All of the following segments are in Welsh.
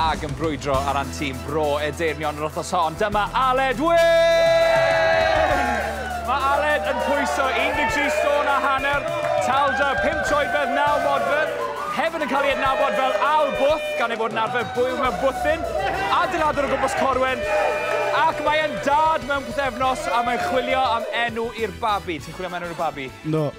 Ag yn brwydro ar ran tîm Bro Edeirnion yr wythnos hon, dyma Aled Wyn! Mae Aled yn pwyso 13 stôn a hanner, talda 5 troedfedd 9 modfedd, hefyd yn cael ei adnabod fel Al Bwth, gan ei fod yn arfer bwyw mewn bwthyn, adeiladwr o gwmpas Corwen, ac mae'n dad mewn pethefnos a mae'n chwilio am enw i'r babi. Ti'n chwilio am enw i'r babi? No.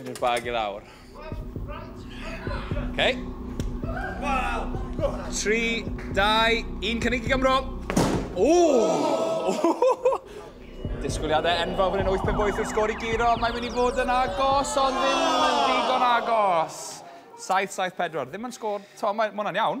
Yn i'r bag i lawr. OK. 3, 2, 1, cynnig i Gymro. Ooh! Disgwyliadau enfawr fan hyn, 8 pen boeth wrth sgôr i giro. Mae'n mynd i fod yn agos, ond ddim yn ddigon agos. 7-7-4, ddim yn sgôr. To, mae hwnna'n iawn.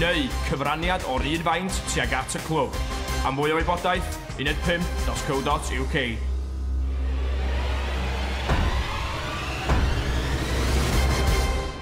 neu cyfraniad o'r un faint tuag at y clwb. Am fwy o wybodaeth, uned 5.co.uk.